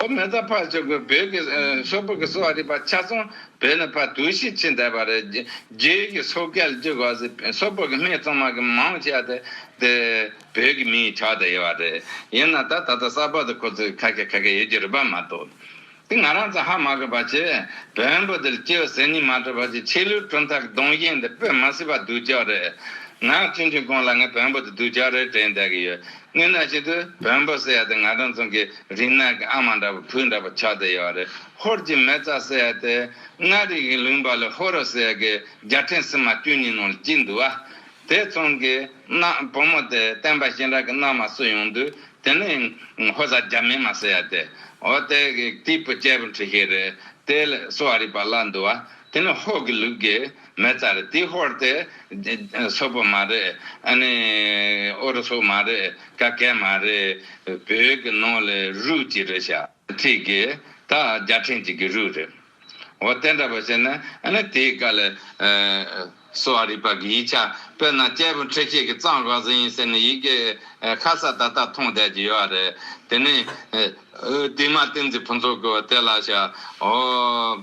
Speaker 1: ཨོ་མེ་ད་ཕ་ཆོས་ཀྱི་བོད་ཀྱི་ཤོག་བུ་གསོལ་བ་རིག་པ་ཆ་ཚང་བོད་ནས་ཕ་དུས་ཤིག་ཕྱིན་བསྡད་པ་རེད་རྒྱའི་ཀྱི་ཤོག་སྐལ་བརྒྱུད་གོ་ཟི་ཤོག་བུ་གི་མི་ཚང་མ་གི་མང་ཆེ་བ་དེ་དེ་བོད་ཀྱི་མིའི་ཕྱག་ཏུ་ཡོད་པ་རེད་ཡིན་ན་ད་ད་ད་གསར་པ་དེ་ཁོ་ཚོ་ཁ་སྐད་ཁ་སྐད་ཡོད་ཀྱི་རེད་པ་མ་གཏོགས་དེ་ང་རང་ཚོ་ཧ་མ་གོ་བ་ཆེ་བོན་པོ་དེ་ལྕི་བ་ཟེར་ཉིན་མ་གྲོལ་བ་ཆེ་ཆེ་ལུས་གྲུམ་ཐག་གི་གདོང་གཞན་དེ་སྤོད་མ་སྲིད་པ་སྡུག་ཅག་རེད་ང་ཆུང་ཆུང་གོང་ལ་ང་བོན་པོ་དེ་སྡུག་ཅག་རེད་དྲན་བསྡད་ཀྱི་ཡོད་སྔན་ན་ཞིག་ཏུ་བོན་པོ་སེ་ཡ་དེ་ང་དང་མཚུངས་ཀྱི་རིག་སྣང་གི་ཨ་མ་འདྲ་བོ་བུ་འདྲ་བོ་ཆགས་བསྡད་ཡོད་རེད་ཧོར་གྱི་མེ་བཙའ་སེ་ཡ་དེ་མངའ་རིས་ཀྱི་ལུང་པ་ལས་ཧོར་རོ་སེ་ཡ་གི་རྒྱལ་ཕྲན་སྲིན་མ་བཅུ་གཉིས་ནང་ལ་བསྐྱིལ་འདུག་ཨ་དེ་མཚུངས་ཀྱི་ན་བུ་མོ་དེ་བསྟན་པ་ཞིང་ར་གི་ན་མ་བསུ་ཡོང་དུས་དེ་ནི་ཧོར་བཟའ་རྒྱ་མེ་མ་སེ་ཡ་དེ་ཨོ་དེ་གི་སྐྱིད་པོ་སྐྱེས་པོ་འཁྲི་ཤིང་རེད་དེ་ལས་བསུ་བ་རིག་པ་བླ་འདུག་ཨ་དེ་ནི་ཧོར་གྱི་ལུགས་ཀྱི། མེ་ལྟར་ཏི་ཧོར་དེ། སོག་པོ་མ་རེད། ཨ་ནི། ཨོ་རུ་སུ་མ་རེད། ཀ་སྐད་མ་རེད། བོད་ཀྱི་ནང་ལས་རུས་ཅི་རེད་བྱ། ཚིག་གི། ད་རྒྱ་ཕྲན་ཅིག་གི་རུས་རེད། འོ་དེ་འདྲ་བ་བྱས་ན་ཨ་ནི་དེའི་བཀའ་ལས། སོ་ཨ་རི་པ་གི་ཡིག་ཆ་དཔེར་ན་སྐྱེས་བུ་འཁྲིད་བྱེད་ཀྱི་གཙང་བཀའ་ཟིན་ཡིན་ཟེར་ནས་ཡི་གེ། ཁ་ས་ད་ལྟ་མཐོང་བསྡད་ཀྱི་ཡོད་རེད་དེ་ནི། དེ་མ་ཏིང་འཛིན་ཕུན་ཚོགས་ཀྱི་བ་དེ་ལ་བྱ། འོ།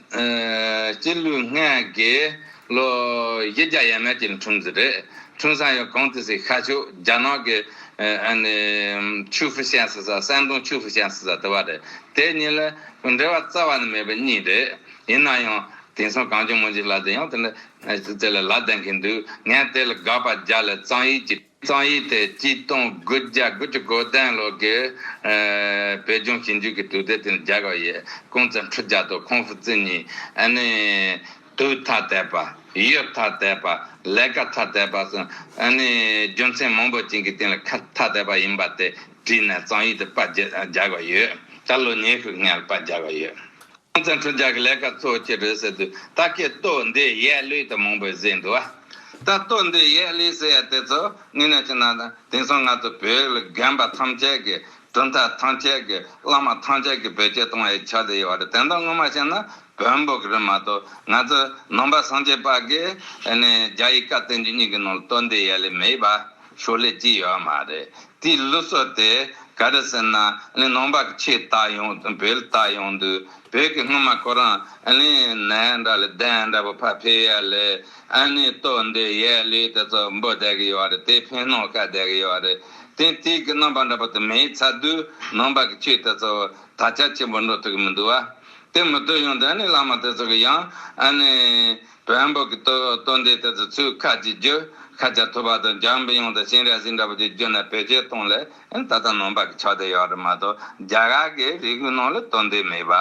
Speaker 1: སྤྱི་ལུས་ལྔས་དགེ། ལོ་བཞི་བརྒྱ་ཡས་མས་ཀྱི་འཁྲུངས་ཟིན་རེད། འཁྲུངས་ས་ཡང་གངས་ཏི་སི་ཤར་ཕྱོགས་རྒྱ་ནག་གི། ཆུ་ཧྥུ་ཤན་སི་ས་ཧྲན་ཏུང་ཆུ་ཧྥུ་ཤན་སི་ས་དེ་བ་རེད། དེ་གཉིས་ལ་འབྲེལ་བ་རྩ་བ་ནས་མེད་པ་གཉིས་རེད། ཡིན་ན་ཡང་དེང་སང་གངས་ལྗོངས་མོ་འཇིགས་ལ་དེ་ཡང་དེ་ལ་དེ་ལ་ལ་ལྡན་གྱིན་འདུག་ངས་དེ་ལ་དགག་པ་རྒྱག་ལ་གཙང་ཡིག་གྱི། ཙང་ཡིག་དེ་སྐྱིད་སྟོང་དགུ་བརྒྱ་དགུ་ཅུ་གོ་བདུན་ལོ་དགུ་བོད་ལྗོངས་ཞིབ་འཇུག་གི་དུས་དེབ་སྟེང་དུ་སྦྱར་བ་ཡི་ཀུང་ཙེ་འཕྲུལ་རྒྱལ་ཏོ་ཁོང་ཧྥུ་ཙི་ཉིད་ནི་དུས་མཐའ་དད་པ། ཡུལ་མཐའ་དད་པ། ལས་ཀ་མཐའ་དད་པ་སོགས་ནི་རྒྱུ་མཚན་མང་པོ་ཅན་གྱི་སྟེང་ལ་ཁ་མཐའ་དད་པ་ཡིན་པ་དེ་བྲིས་ནས་ཙང་ཡིག་དུ་པར་སྦྱར་བ་ཡོད། ད་ལོ་ཉི་ཤུ་ལྔའི་པར་སྦྱར་བ་ཡོད། ཁོང་ཚང་ཁྲོ་རྒྱག་གི་ལས་ཀ་གཙོ་བོ་ཁྱེད་རེད་ཟེར་དུས་ད་ཁྱེད་ལྟོ་འདི་ཡས་ལུས་དང་མང་པོས་ཟས་འདུག་ཨ། ད་ལྟོ་འདི་ཡས་ལུས་ཟས་ཡ་དེ་ཚོ་ངེད་ནས་ཅི་གནང་དང་དེང་སང་ང་ཚོ་བོད་ལ་རྒན་པ་ཐམས་ཅད་ཀྱི་གྲུབ་མཐའ་ཐམས་ཅད་ཀྱི་བླ་མ་ཐམས་ཅད་ཀྱི་བོད་སྐྱེ་གཏོང་ཡས་ཆགས་དེ་ཡས་བ་རེད་དེ་འདྲ་ངོ་མ་ཤེས་ན་བོད་འབོག་གི་རེད་མ་གཏོགས་ང་ཚོ་ནང་པ་སངས་རྒྱས་པ་གིས་ནས་རྒྱ་ཡི་བཀའ་བསྟན་རྒྱུ་གཉིས་ཀྱི་ནང་ལ་ལྟོ་འདི་ཡས་ལུས་མེད་པ། ཞོར་ལས་ཀྱི་ཡོད་མ་རེད་དེའི་གླུ་སོགས་དེ་ག་རེ་ཟེར་ན་གླིང་ནང་པ་ཁྱེད་ལྟ་ཡོང་དང་བོད་ལྟ་ཡོང་དུས་བོད་ཀྱི་སྔོན་མ་ཁོ་རང་གླིང་ནས་འདྲ་ལས་གདན་འདྲ་པོ་ཕར་ཕེབས་ཡས་ལས་ཨ་ནི་ལྟོས་འདི་ཡས་གླུས་དེ་ཚོ་འབོད་བསྡད་གི་ཡོད་རེད་དེ་ཕན་གནང་ཤག་བསྡད་གི་ཡོད་རེད་དེ་དུས་ཀྱི་རྣམ་པ་འདྲ་པོ་དེ་མེད་ཚར་དུས་ནང་པ་ཀྱི་ཁྱེད་དེ་ཚོ་དར་ཆ་ཆེན་པོ་འགྲོ་ཐུབ་ཀྱི་མི་འདུག་བ་དེ་མི་ལྟོས་ཡོང་དུས་ཨ་ནི་བླ་མ་དེ་ཚོ་གི་ཡང་ཨ་ནི། བོན་པོ་གི་སྟོན་ཟླའི་དུས་སུ་ཚུལ་ཁ་ཅིག་རྒྱུ་ཤ་ཆ་ཐུབ་པ་དང་འཇམ་དབྱངས་དང་ཤིང་རལ་སྲིན་འདྲ་བོ་ཅིག་རྒྱུ་ན་བོད་ཆས་སྟོང་ལས་ད་ལྟ་ནང་པ་གི་ཕྱག་དེ་ཡོད་རེད་མ་གཏོགས་རྒྱ་གར་གི་རིགས་པའི་ནང་ལ་སྟོན་ཟླའི་མེད་པ།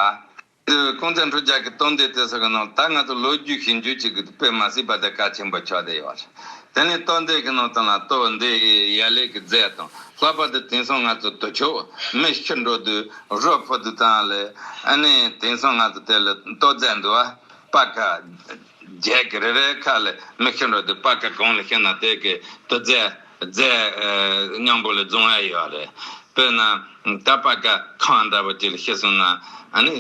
Speaker 1: དེ་བས་ཁུངས་བཙན་ཁྲོ་རྒྱལ་གི་སྟོན་ཟླའི་དུས་སུ་གི་ནང་ད་ང་ཚོ་ལོ་རྒྱུས་ཤེས་འཇུག་ཅིག་གི་དཔེ་མ་སྲིད་པ་དེ་ཀ་ཆེན་པོ་ཕྱག་དེ་ཡོད་རེད་དེ་ནས་སྟོན་ཟླའི་གི་ནང་དང་ལ་སྟོན་ཟླའི་ཡ་ལེ་གི་རྫས་དང་ལྷག་པ་དེ་དེང་སང་ང་ཚོ་དུ་ཆོས་མི་ཤི་འགྲོ་དུས་རོ་ཕོ་དུས་དང་ལས་ཨ་ནི་དེང་སང་ང་ཚོ་དེ་ལ་ལྟོ་རྫས་འདུལ་བ། པ་ཁ། བརྒྱད་ཀྱི་རེ་རེའི་ཁ་ལས་མིག་ཤེལ་འགྲོ་དུས་པ་ཁ་གང་ལ་ཤེས་ན་དེ་གའི་དུ་རྫས། རྫས། སྙིང་པོ་ལས་བཟུང་བ་ཡོད་རེད། དཔེར་ན། ད་པ་ཁ་གང་འདྲ་བོ་ཅིག་ལ་ཤེས་སོང་ན། ཨ་ནི།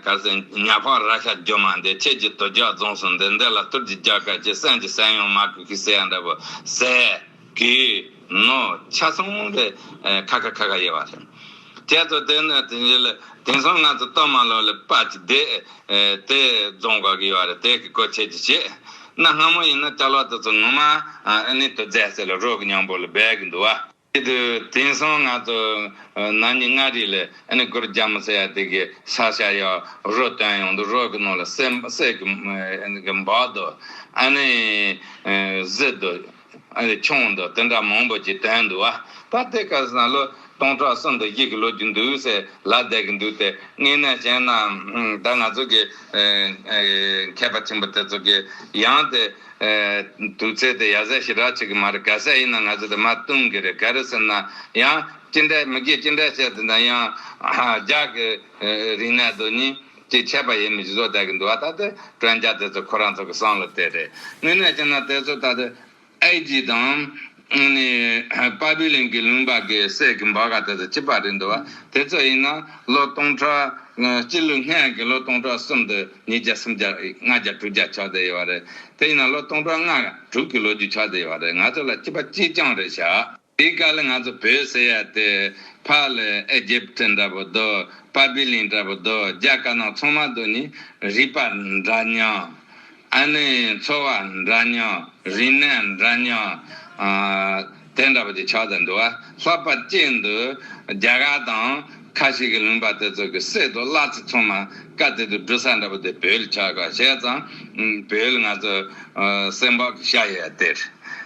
Speaker 1: གལ་སྲིད་ཉག་ཕག་ར་ཤ་རྒྱུ་མ་འདི་ཁྱེད་ཀྱི་དུ་རྒྱག་རྫོངས་སོང་འདི་འདི་ལ་ཏུར་གྱིས་རྒྱག་གལ་ཆེ་སེམས་ཀྱི་སེམས་ཡོང་མ་ཁུག་ཤིག་ཟེར་ཡ་འདྲ་བོ་ཟེར། གི་ནོ། ཆ་ཚང་མ་རེད། ཁ་ཁ་ཁ་ཁ་ཡེ་བ་རེད། ཁྱེད་ཚོ་དེ་ནས་དེ་ཉིད་ལ་དེང་སང་ང་ཚོ་གཏོར་མ་ལོ་ལེ་དཔའ་ཅི་བདེ་དེ་རྫོང་དགོས་ཀྱི་ཡོད་རེད་དེ་གི་གོ་ཆེ་ཅི་བྱེད། གནའ་སྔ་མོ་ཡིན་ན་སྐྲ་ལོ་དེ་ཚོ་ངོ་མ་ཨ་ནི་དུ་རྫས་སེ་ལ་རོ་གི་སྙང་པོ་ལ་སྦས་གི་འདུག་བ། དེ་དུས་དེང་སང་ང་ཚོ་ན་ནི་མངའ་རིས་ལ་ཨ་ནི་གུར་རྒྱ་མོ་སེ་ཡ་དེ་གི་ས་ཤ་ཡ་རོ་བཏོན་ཡོང་དུ་རོ་གི་ནོ་ལ་སེ་གི་འབག་དུ་ཨ་ནི་བཟི་དུ། ཁྱུང་དང་དེ་འདྲ་མང་པོ་ཅིག་དོན་འདུག་ཨ། ད་ལྟའི་ཁར་སང་ལོ་སྟོང་ཕྲག་གསུམ་དང་བཞི་གི་ལོ་རྒྱུ་འདུག་ཟེར་ལ་བསྡད་ཀྱི་འདུག་སྟེ་དངོས་གནས་བཤད་ན། ད་ང་ཚོ་གི་མཁས་པ་ཆེན་པོ་དེ་ཚོ་གི་ཡང་དེ་དུས་ཚོད་དེ་ཡ་གཟའ་ཞི་རག་བྱེད་ཀྱི་མ་རེད་ག་ཟས་ཡིན་ན་ང་ཚོ་དེ་མ་བཏུང་གི་རེད་ག་རེ་ཟེར་ན་ཡང་ཅི་འདྲའི་མི་དགེ་ཅི་འདྲའི་བཤད་དེ་འདྲ་ཡང། ལྗགས་ཀྱི་རིག་གནས་དོ་གཉིས། ཅེས་འཆད་པ་ཡིན་མོད་སྦྱིན་སོགས་དལ་གྱིས་འདུ་བ་ལྟ་སྟེ་དྲོད་འཇགས་དེ་ཚོ་ཁོ་རང་ཚོ་གི་སྲང་ལ་བལྟས་ཏེ། དངོས་གནས་ཅི་ན་དེ་ཚོ་ལྟ་སྟེ། ཨའི་རྒྱུད་དང། ནི། པ་པི་ལིན་གྱི་ལུང་པར་གྱི་སྲས་ཀྱི་འབའ་ག་དེ་ཚོ་ཅི་པར་རིག་འདུ་བ་དེ་ཚོ་ཡིན་ན། ལོ་སྟོང་ཕྲག། སྤྱི་ལོ་སྔ་ཡན་གྱི་ལོ་སྟོང་ཕྲག་གསུམ་དུ་ཉིས་བརྒྱ་སུམ་བརྒྱ། ལྔ་བརྒྱ་དྲུག་བརྒྱ་ཆགས་བསྡད་ཡོད་བ་རེད། དེ་ཡིན་ན་ལོ་སྟོང་ཕྲག་ལྔ། དྲུག་གི་ལོ་རྒྱུས་ཆགས་བསྡད་ཡོད་བ་རེད་ང་ཚོ་ལ་སྐྱིད་པ་ཅི་ཅང་རེད་བྱ། དེའི་སྐབས་ལ་ང་ཚོ་བོད་ཟེར་ཡ་དེ་ཕག་ལས་ཨེ་རྗེ་བ་ཏྲི་འདྲ་པོ་འདུག་པ་པི་ལིང་འདྲ་པོ་འདུག་རྒྱ་དཀར་ནག་ཚོང་མ་འདུག་ནི་རིག་པ་འདྲ་མྱང། ཨ་ནི་འཚོ་བ་འདྲ་མྱང་རིག་གནས་འདྲ་མྱང། དེ་འདྲ་པོ་ཅིག་ཆགས་ཏེ་འདུག་བ་ལྷག་པ་ཅི་འདུག་རྒྱ་གར་དང་ཁ་ཤི་གི་ལུང་པ་དེ་ཚོ་གི་སྲས་དུ་བླ་ཚེ་ཚོང་མ་ཀ་དེ་དུ་འབྲུ་ས་འདྲ་པོ་དེ་བོད་ལ་ཆགས་ཀ་བྱས་ཙང་བོད་ལ་ང་ཚོ་སེམས་བག་ཤ་ཡས་དེར།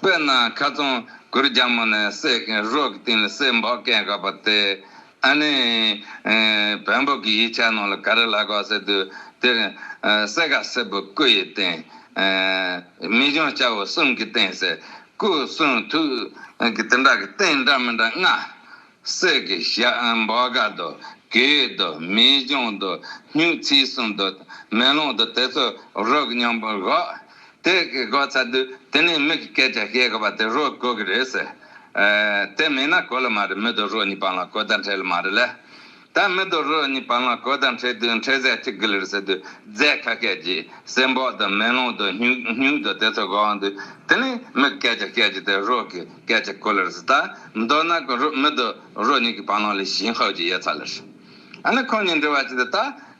Speaker 1: དཔེར་ན་ཁ་ཚོན་གུར་རྒྱ་མོ་ནས་བསྲེགས་མཁན་རོག་གི་སྟེང་ལ་སྲེག་འབག་སྐེད་འགག་པ་དེ་ཨ་ནེ་བལ་འབུག་གི་ཡིག་ཆ་ནང་ལ་ག་རེ་ལ་གོ་ཟེར་དུས་དེར་གསེར་ག་སེར་པོ་སྐུ་ཡི་སྟེང་མི་གཞོན་སྐྱ་བོ་གསུམ་གྱི་སྟེང་ཟེར་སྐུ་གསུང་ཐུགས་ཀྱི་དེ་འདྲ་གི་སྟེང་འདྲ་མི་འདྲ་ལྔ་གསེར་གྱི་ཞབས་འབག་ག་དུ་གུའི་དུ་མའི་གཞུང་དུ་སྨྱུག་ཚིགས་གསུམ་དུ་མེ་ལོང་དུ་དེ་ཚོ་རོ་སྙོམས་པར་བཞག། དེ་གི་གོ་ཚ་དུས་དེ་ནས་མིག་གི་སྐད་ཆ་བཤད་དགོས་པ་དེ་རོ་གོ་གི་རེད་ཟེར། དེ་མེད་ན་གོ་ལ་མ་རེད་མི་དུ་རོ་གཉིས་པང་ལ་གོ་བརྡ་འཕྲད་ལ་མ་རེད་ལ། དང་མི་དུ་རུ་གཉིས་པ་ལ་གོས་དང་ཁྲེ་བདུན་ཁྲེ་ཟད་གཅིག་གི་ལུས་སུ་དུས་རྫས་ཁ་སྐད་ཀྱིས་སེམས་བོག་དང་མེ་ལོང་དང་སྨྱུག་སྨྱུག་དང་དེ་ཚོ་གང་དུ་དེ་ནི་མི་གི་སྐད་ཆ་སྐད་ཀྱི་དེ་རོག་གི་སྐད་ཆ་གོ་ལུར་སུ་དང་མདོར་ན་གོ་རུ་མི་དུ་རུ་གཉིས་ཀྱི་བ་ལང་ལས་ཞིན་ཧོའུ་ཅི་ཡེ་ཚ་ལུར་སུ། ཨ་ནི་ཁོང་གཉིས་འདྲི་བ་ཅི་དེ་ད་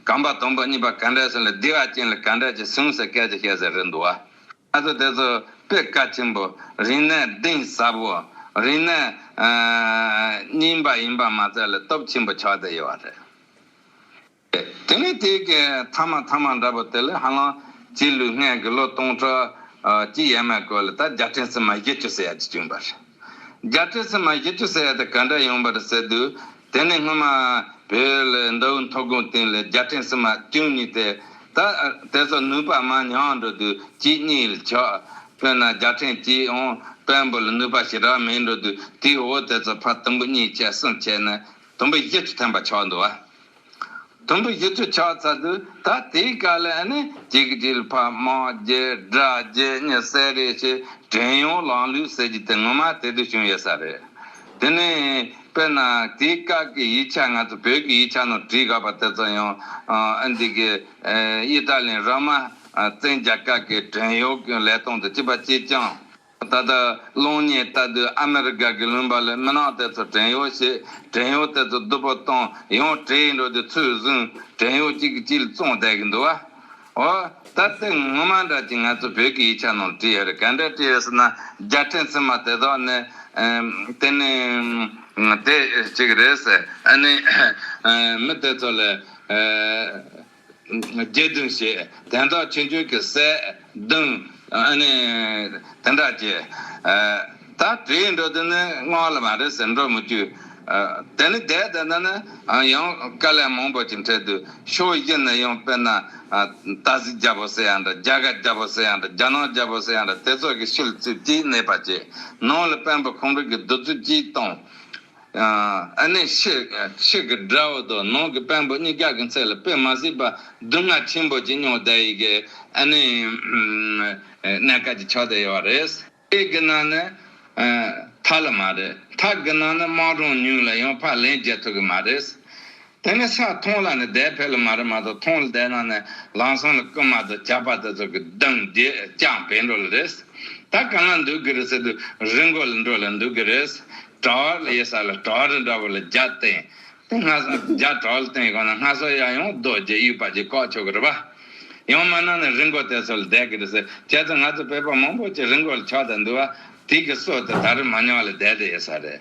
Speaker 1: གམ་པ་དང་པོ་གཉིས་པ་ག་འདྲས་སུ་ལ་དི་བ་ཅན་ལ་ག་འདྲས་ཀྱི་སུང་སུ་སྐད་ཆ་བཤད་ཟེར་རེད་འདུག་བ། ཨ་ཙོ་དེ་ཚོ་སྤུས་དཀའ་ཆེན་པོ་རིང་ནས་གདེང་ཟབ་བོ་རིང་ནས་རྙིང་པ་ཡིན་པ་མ་ཚད་ལ་སྟོབས་ཆེན་པོ་ཆགས་བསྡད་ཡོད་བ་རེད། དེ་ནས་དེ་གའི་མཐའ་མ་མཐའ་མ་འདྲ་པོ་དེ་ལས་ཧ་ལམ་སྤྱི་ལོའི་སྔའི་དགུ་ལོ་སྟོང་ཕྲག་གཅིག་ཡས་མས་སྐོར་ལ་ད་རྒྱ་ཕྲན་སི་མ་བཞི་བཅུ་ཟེར་ཡ་གཅིག་བྱུང་བ་རེད། རྒྱ་ཕྲན་སི་མ་བཞི་བཅུ་ཟེར་ཡ་དེ་ག་འདྲ་ཡོང་བ་རེད་ཟེར་དུས། དེ་ནི་སྔོན་མ་བོད་ལ་མདོ་དབུས་མཐོ་སྒང་སྟེང་ལ་རྒྱལ་ཕྲན་བསིལ་མ་བསྐྱུངས་ཉིད་དེ། ད་དེ་སོགས་ནུས་པ་མང་ཉུང་འགྲོ་དུས་གཅིག་གཉིས་ལ་ཆགས། དཔེར་ན་རྒྱལ་ཕྲན་གྱིའང་དཔལ་འབོར་ལ་ནུས་པ་ཞེ་དྲག་མེད་འགྲོ་དུས་དེའི་འོག་དེ་ཚོ་ཕར་དུམ་བུ་གཉིས་བཅད་གསུམ་བཅད་ནས་དུམ་བུ་བཞི་བཅུ་ཐོན་པ་ཆགས་འདུག་བ། དུམ་བུ་བཞི་བཅུ་ཆགས་ཚར་དུས་ད་དེའི་དཀའ་ལས་ནི་གཅིག་དྲིལ་ཕ་མ་རྒྱའི་དགྲ་རྒྱའི་གཉེར་གསལ་རེད་ཞེས་དྲན་ཡོང་ལང་ལུས་ཟེར་རྒྱུ་དེ་ངོ་མ་དེ་དུས་བྱུང་ཡོད་ས་རེད། དེ་ནས་དཔེར་ན་དེའི་སྐབས་ཀྱི་ཡིག་ཆ་ང་ཚོ་བོད་ཀྱི་ཡིག་ཆ་ནང་བྲིས་དགའ་བ་དེ་ཚོ་ཡང་ཨ་འདི་གི་དབྱི་ཏཱ་ལིའི་ར་མ་བཙན་རྒྱལ་སྐབས་ཀྱི་བྲན་གཡོག་གི་ལས་སྟངས་དང་བཅས་པ་ཅིས་ཀྱང། ད་ལྟ་གློག་བརྙན་ལྟ་དུས་ཨ་མེ་རི་ཀ་དགེ་ལུང་པ་ལས་མི་ནག་དེ་ཚོ་བྲན་གཡོག་བྱས། བྲན་གཡོག་དེ་ཚོ་བསྡུ་བུ་བཏང་ཡང་བྲེལ་ཡིན་འགྲོ་དེ་ཚོས་བཟུང་བྲན་གཡོག་གཅིག་གི་སྐྱིལ་བཙོང་བསྡད་གི་འདུག་ཨ། འོ། ད་ལྟའི་སྔོན་མ་འདྲ་གྱི་ང་ཚོ་བོད་ཀྱི་ཡིག་ཆ་ནང་བྲིས་ཡོད་རེད་ག་འདྲ་བྲིས་ཡོད་ཟེར་ན་རྒྱ་བྲན་ཚུན་མ་དེ་དག་ནི། དེ་ནི། དེ་ཅིག་རེད་ཟེར་ཨ་ནི། མི་དེ་ཚོ་ལས། རྒྱས་བསྡུས་བྱས། དན་རྟགས་ཆོས་འབྱུང་གི་གསལ། བརྡུང། དེ་འདྲ་བགྱི། ད་དྲིའི་འགྲོ་དོན་ནི་སྔགས་ལ་མ་རེག་ཟེར་འགྲོ་མི་བསྐྱུར། དེ་ནི་བཟླས་བཟླས་ན་ནི་ཡང་དཀའ་ལས་མང་པོ་ཅིག་འཕྲད་དུས་ཕྱོགས་བཞི་ནས་ཡང་དཔེར་ན། རྟ་གཟིག་རྒྱལ་པོ་སེ་ཡང་འདྲ་རྒྱ་སྐད་རྒྱལ་པོ་སེ་ཡང་འདྲ་རྒྱ་ནག་རྒྱལ་པོ་སེ་ཡང་འདྲ་དེ་ཚོ་གི་ཤུལ་བཙུགས་ཀྱིས་གནས་པ་བྱས། ནང་ལ་དཔོན་པོ་ཁོང་ཁྲོ་གི་བདུད་རྩི་སྤྱིའི་སྟོང། ཨ་ནི་ཤིག་གི་དགྲ་བོ་དང་ནང་གི་དཔོན་པོ་གཉིས་ཀྱག་གི་མཚེ་ལ་དཔེ་མ་གཟིགས་པར་སྡུག་བསྔལ་ཆེན་པོ་ཅི་མྱོང་བསྡད་ཡི་གི་ཨ་ནི་གནས་སྐལ་གྱི་ཕྱོགས་བསྡད་ཡོད་བ་རེད། དཔེ་གི་ནང་ནི་མཐའ་ལ་མ་རེད་མཐའ་གི་ནང་ནི་དམངས་གྲོང་ཉུང་ལ་ཡང་ཕར་ལན་རྒྱག་ཐུབ་གི་མ་རེད། དེ་ནས་ས་མཐོང་ལ་ནི་དེའི་ཕས་ལ་མ་རེ་མ་ཏོག་མཐོང་ལ་དེ་རྣམས་ནི་ལང་སང་ལ་ཀུ་མ་དང་བྱ་བ་དེ་ཚོགས་ཀྱི་གདུང་རྒྱུད་རྐྱང་བས་འགྲོ་ལ་རེས་ད་གང་ན་འདུག་གི་རེ་ཟེར་དུ་རི་མགོ་ལ་འགྲོ་ལ་འདུག་གི་རེས་གྲ་བ་ལ་ཡེ་ས་ལ་གྲ་བ་རི་འདྲ་བ་ལ་བརྒྱ་སྟེང་དེ་སྔ་སངས་བརྒྱ་གྲ་བ་ལ་སྟེང་གང་ན་སྔ་སོ་ཡང་ཡང་རྡོ་རྗེ་དབྱུག་པ་གྱིས་བཀག་ཆོག་གི་རེ་བ། ཡང་མ་ན་ནི་རི་མགོ་དེ་ཚོ་ལ་བསྡད་གི་རེ་ཟེར་ཁྱེད་ཚོ་ང་ཚོ་བོད་པ་མང་པོ་ཅིག་རི་མགོ་ལ་ཆགས་ད་འདུག་བ་དིག་གི་སོ་དེ་ད་རི་མ་ཉག་ལ་བསྡད་དེ་ཡེ་ས་རེད།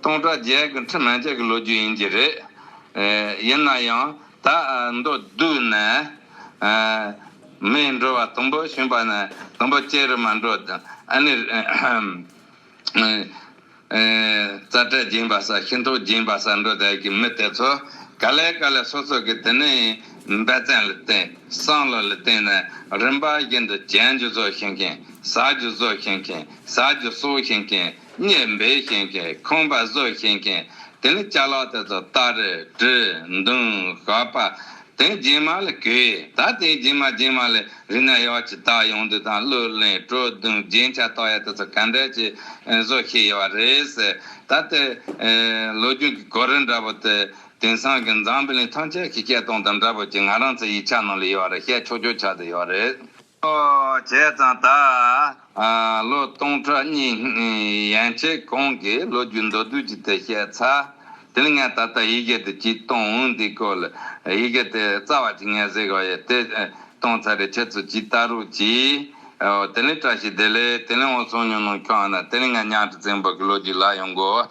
Speaker 1: སྟོང་དང་བརྒྱད་ཀྱི་ཁྲི་སྨད་བརྒྱད་ཀྱི་ལོ་རྒྱུས་ཡིན་གྱི་རེད། ཡིན་ན་ཡང་ད་མདོ་བསྡུས་ནས། མིའི་འགྲོ་བ་དང་པོ་བྱུང་བ་ནས་དང་པོ་སྐྱེ་རུ་མ་འགྲོ། ཨ་ནི། རྩ་བྲལ་སྦྱིན་པ་ས་ཤིང་ཐོག་སྦྱིན་པ་ས་འགྲོ་བསྡད་ཀྱི་མི་དེ་ཚོ་ག་ལེ་ག་ལེ་སོ་སོ་གི་དེ་ནས་འབད་བརྩོན་ལ་བརྟེན་བསམ་བློ་ལ་བརྟེན་ནས་རིམ་པ་བཞིན་དུ་བྱན་རྒྱུ་བཟོ་ཤེས་མཁན་ཟ་རྒྱུ་བཟོ་ཤེས་མཁན་ཟ་རྒྱུ་གསོ་ཤེས་མཁན། གཉེར་འབེལ་བཞིན་མཁན་ཁང་པ་བཟོ་བཞིན་མཁན་དེ་ནི་བྱ་ལག་དེ་ཚོ་སྟར། བྲི། འདུང། ཞགས་པ། དེ་སྦྱིན་མ་ལ་གུས། ད་དེ་སྦྱིན་མ་སྦྱིན་མ་ལ་རིག་ན་ཡག་ཅི་ད་ཡོང་དུས་དང་གླུ་ལེན་སྤྲོ་བརྡུང་རྒྱན་ཆ་བཏགས་ཡ་དེ་ཚོ་ག་འདྲ་ཅི་བཟོ་ཤེས་ཡོད་བ་རེད། ད་ལྟའི་ལོ་རྒྱུས་ཀྱི་གོ་རིམ་འདྲ་པོ་དེ་དེང་སང་གི་འཛམ་བུ་གླིང་ཐམས་ཅད་ཀྱི་སྐད་སྟོང་དང་འདྲ་པོ་ཅིག་ང་རང་ཚོའི་ཡིག་ཆ་ནང་ལ་ཡོད་རེད་བཤད་ཆོག་ཆོག་ཆགས་དུ་ཡོད་རེད། ཨོ་བྱས་ཙང་ད་ལོ་སྟོང་ཕྲག་གཉིས་ཡན་ཆད་གོང་གི་ལོ་རྒྱུས་མདོར་བསྡུས་ཀྱི་དེ་བཤད་ཚར། དེ་ལ་ངས་ད་ལྟ་ཡི་གེ་དེ་གཅིག་གཏོང་འོང་འདི་སྐོར་ལ་ཡི་གེ་དེ་རྩ་བ་གཅིག་ངས་གཟིགས་བ་ཡིན་དེ་གཏོང་ཚར་རེ་ཁྱེད་ཚོ་ཇི་ལྟ་རུ་གྱིས། ཨོ་དེ་ལས་བཀྲ་ཤིས་བདེ་ལེགས་དེ་ལས་འོང་སོང་ཉོ་ནོ་ཁྱོད་ཨ་ན་དེ་ལས་ངས་ཉང་ཁྲི་བཙན་པོ་གི་ལོ་རྒྱུས་ལ་ཡོང་དགོས།